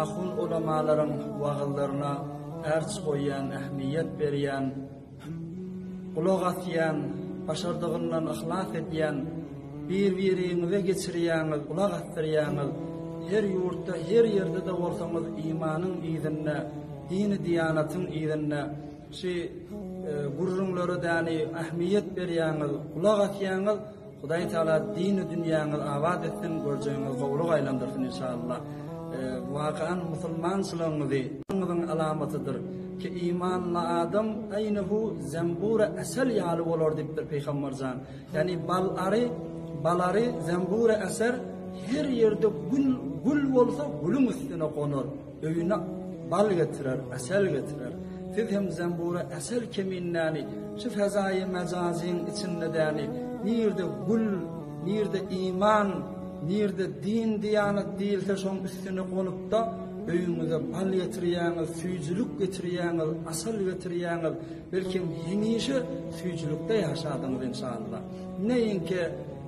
Ahun ulamalaryň wagyzlaryna ärç goýýan, ähmiýet berýän, gulak asýan, başardygyndan yhlas edýän, bir-biriňize geçirýäňiz, gulak asdyrýaňyz. Her ýurtda, her ýerde-de bolsaňyz, imanyň yzynda, dini-diýanatyň yzynda şu e, gürrüňlere däni ähmiýet berýäňiz, gulak asýaňyz. Hudaý Taala dini dünýäňiz abat etsin, görjegiňiz gowulyga aýlandyrsyn inşallah. Wakan musulmançylygyňyzy yzyň alamatydyr. Ki imanly adam aýny bu zembura asal ýaly bolar diýipdir Pygamberjan. Ýani bal ary, balary zembura asar, her ýerde gül, gül bolsa gülüň üstüne gonar. Öýüne bal getirer, asal getirer. Siz hem zembura asal kemindäni, şu fezaýy mejazyň içinde däni, nirde gül, nirde iman, nirde din diýanat diýilse şoň üstüne gonupda öýüňize bal getirýäňiz, süýjülik getirýäňiz, asal getirýäňiz. Belki hemişe süýjülikde ýaşadyňyz inşallah. Neýinki